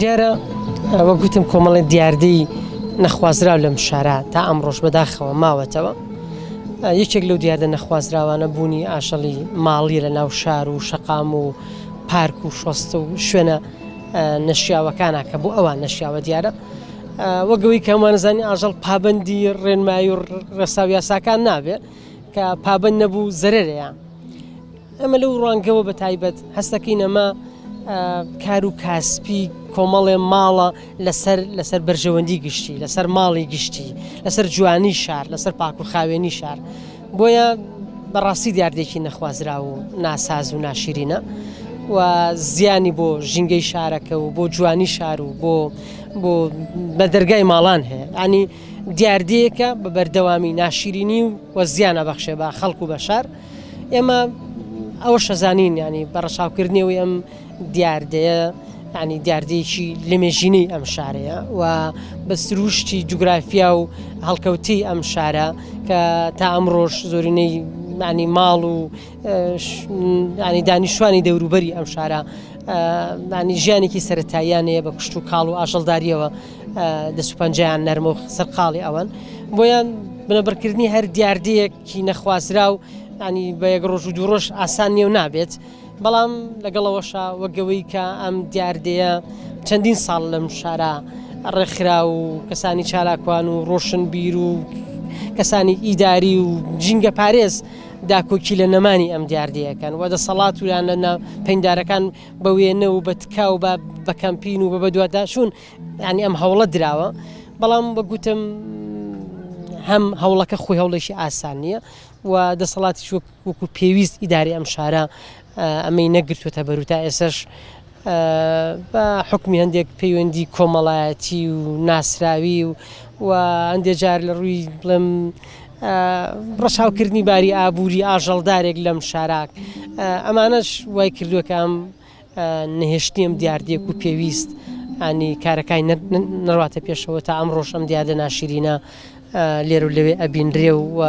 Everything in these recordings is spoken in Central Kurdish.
دیارە وەک گوتم کۆمەڵی دیاردەی نەخوازراو لەم شارە تا ئەم ڕۆژ بەداخەوە ماوەتەوە یەکێک لەو دیاردە نەخوازراوانە بوونی ئاشەڵی ماڵی لە ناو شار و شەقام و پارک و شۆست و شوێنە نەشیاوەکانە کە بۆ ئەوان نەشیاوە دیارە وەگەوەی کەمانزانانی ئاژەڵ پابندی ڕێنمایی و ڕێساو یاساکان نابێت کە پابند نەبوو زەرەرەیە ئەمە لەو ڕوانگەوە بە تایبەت هەستەکەین ئەمە کار و کاسپی کۆمەڵێ ماڵە لەسەر لەسەر بەرژەوەندی گشتی لەسەر ماڵی گشتی لەسەر جوانی شار لەسەر پاک و خاوێنی شار بۆیە بەڕاستی دیاردێکی نەخوازرا و ناساز و ناشیرینە و زیانی بۆ ژینگەی شارەکە و بۆ جوانی شار و بۆ بۆ بە دەرگای ماڵان هەیە ئەنی دیاردەیەکە بە بەردەوامی ناشیرینی و وە زیانە بەخشێ بە خەڵکو بە شار ئێمە ئەوە شەزانین ینی بە ڕەچاوکردنیەوەی ئەم دیاردەیە ینی دیاردەیەکی لەمێژینەی ئەم شارەیە و بە سروشتی جوگرافیا و هەڵکەوتی ئەم شارە کە تا ئەمڕۆژ زۆرینەی معنی ماڵ و ینی دانیشتوانی دەوروبەری ئەم شارە معنی ژیانێکی سەتاییان هەیە بە کوشت و کاڵ و ئاژەڵداریەوە دەسوپەنجیان نەرمۆخ سەرقاڵی ئەوەن بۆیان بنەبڕکردنی هەر دیاردەیەک کی نەخوازراو ینی بە یەک ڕۆژ و دوو ڕۆژ ئاسان نیێو نابێت بەڵام لەگەڵەوەشە وەگەوەی کە ئەم دیاردەیە چەندین ساڵ لەم شارە ڕێکخرا و کەسانی چالاکوان و ڕۆشن بیر و کەسانی ئیداری و جینگە پارێز داکۆکی لە نەمانی ئەم دیاردەیەکەن و دەسەڵات ویان لە پندارەکان بە وێنە و بە تکاو بە بەکەمپین و بە بەدووادا چوون یعنی ئەم هەوڵە دراوە بەڵام بەگوتم هەم هەوڵەکە خۆی هەوڵێکی ئاسان نییە و دەسەڵاتی وەکو پێویست ئیداری ئەم شارە ئەمەی نەگرتوێتە بەرو تا ئێسش بە حکمی هەندێک پەیوەندی کۆمەڵایەتی و ناسراوی و و هەندێک جار لە ڕووی بڵێم ڕەشاوکردنی باری ئابووری ئاژەڵدارێک لەم شاراک ئەمانەش وای کردوەکەم نەهێشتنی ئەم دیاردەیەک و پێویست ئانی کارەکانی نەڕاتە پێشەوە تا ئەم ڕۆژ ئەم دیاردە ناشیرینە لێرە و لەوێ ئەبینرێ و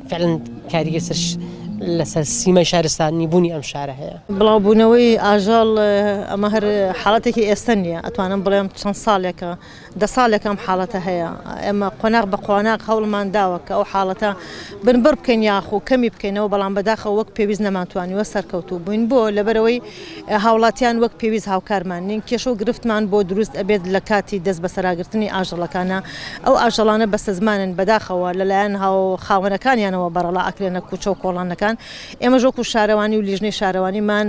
فعلن کاریگە سەر لەسەر سیمای شارستانی بوونی ئەم شارە هەیە بڵاوبوونەوەی ئاژەڵ ئەمە هەر حاڵەتێکی ئێستا نییە ئەتوانم بڵێم چەند ساڵێکە دە ساڵێکە ئەم حاڵەتە هەیە، ئێمە قۆناغ بە قۆناغ هەوڵمان داوە کە ئەو حاڵەتە بنبڕ بکەین یاخو کەمی بکەینەوە، بەڵام بەداخەوە وەک پێویست نەمانتوانیوە سەرکەوتوو بووین، بۆ؟ لەبەرئەوەی هاوڵاتیان وەک پێویست هاوکارمان نین، کێشە و گرفتمان بۆ دروست ئەبێت لە کاتی دەست بەسەراگرتنی ئاژەڵەکانا، ئەو ئاژەڵانە بەستەزمانن بەداخەوە لەلایەن خاوەنەکانیانەوە بەڕەڵا ئەکرێنە کوچە و کۆڵانەکان، ئێمەش وەکو شارەوانی و لیژنەی شارەوانیمان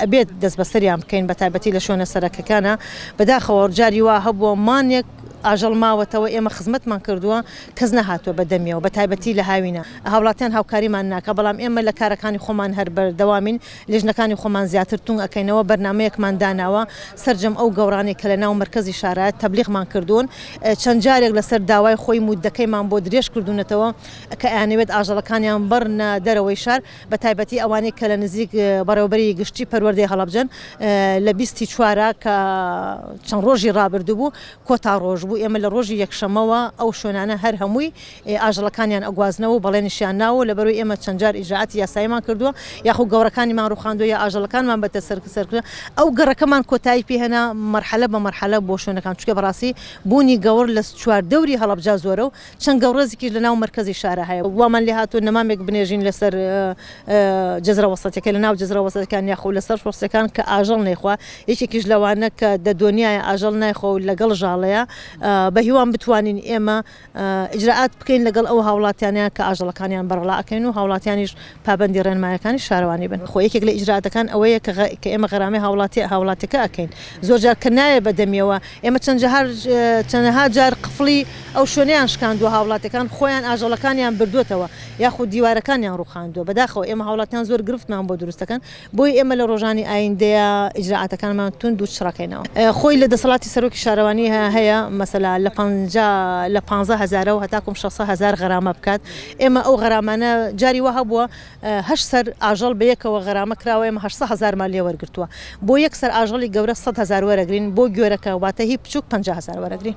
ئەبێت دەست بەسەریان بکەین بە تایبەتی لە شوێنە سەرەکەکانە بەداخەوە جاری وا هەبووە مانێک ئاژەڵ ماوەتەوە ئێمە خزمەتمان کردووە کەس نەهاتووە بە دەمیەوە بە تایبەتی لە هاوینە هاوڵاتیان هاوکاریمان ناکە بەڵام ئێمە لە کارەکانی خۆمان هەر بەردەوامین لێژنەکانی خۆمان زیاتر تونگ ئەەکەینەوە بەرنمەیەکمان داناوە سرجەم ئەو گەورانێک کە لە ناو مرکزی شارایەت تەبلیغمان کردوون چەند جارێک لەسەر داوای خۆی مودەکەیمان بۆ درێژ کردوونەتەوە کە ئەیانەوێت ئاژەڵەکانیان ببرنە دەرەوەی شار، بەتایبەتی ئەوانەی کە لە نزیک بەڕێوەبەری گشتی پەروەردەی هەڵەبجەن، لە بیست ی چوار ە کە چەند ڕۆژی ڕابردوو بوو کۆتا ڕۆژ بوو، ئێمە لە ڕۆژی یەکشەممەوە ئەو شوێنانە هەر هەمووی ئاژەڵەکانیان ئەگوازنەوە و بەڵێنیشیان ناوە و لەبەروەی ئێمە چەند جار ئیجرائاتی یاساییمان کردووە یاخو گەوڕەکانیمان ڕوخاندووە یا ئاژەڵەکانمان بەتە سەر کردووە، ئەو گەڕەکەمان کۆتایی پێ هێنا مەرحەلە بە مەرحەلە بۆ شوێنەکان چونکە بەڕاستی بوونی گەوڕ لە چواردەوری هەڵەبجە زۆرە و چەند گەوڕێزیکیش لە ناو مەرکەزی شارا هەیە و وامان لێ هاتووە نەمامێک بنێژین لە سەر جزرە وەسەتیەکە لە ناو جزرە وەسەتەکان یاخۆ لە سەر شۆستەکان کە ئاژەڵ نەیخوا یەکێکیش لەوانە کە دە دۆنیایە ئاژەڵ نایخوا و لەگەڵ ژاڵەیە بە هیوام بتوانین ئێمە ئیجرائات بکەین لەگەڵ ئەو هاوڵاتیانە کە ئاژەڵەکانیان بەڕەڵا ئەکەین و هاوڵاتیانیش پابەندی ڕێنمایەکانی شارەوانی بن خۆ یەکێک لە ئیجرائاتەکان ئەوەیە کە کە ئێمە غەرامەی هاوڵاتیە هاوڵاتیەکە ئەکەین زۆر جار کە نایە بە دەمیەوە ئێمە چەند جار چەنەها جار قفڵی ئەو شوێنەیان شکاندووە هاوڵاتەکان خۆیان ئاژەڵەکانیان بردووەتەوە یاخود دیوارەکانیان ڕوخاندووە بەداخەوە ئێمە هاوڵاتیان زۆر گرفتمان بۆ دروستەکەن بۆیە ئێمە لە ڕۆژانی ئایندەیە ئیجرائاتەکانمان توند و چڕەکەینەوە. خۆی لە دەسەڵاتی سەرۆکی شارەوانی هەیە مەسەلا لە پەنجا لە پانزە هەزارەوە هەتاکوم شەست سەد هەزار غەرامە بکات. ئێمە ئەو غەرامانە جاری وا هەبووە هەشت سەر ئاژەڵ بە یەکەوە غەرامە کراوە ئێمە هەشت سەد هەزارمان لێ وەرگرتووە. بۆ یەک سەر ئاژەڵی گەورە سەد هەزار وەرەگرین، بۆ گوێرەکە واتە هی بچووک پەنجا هەزار وەرەگرین.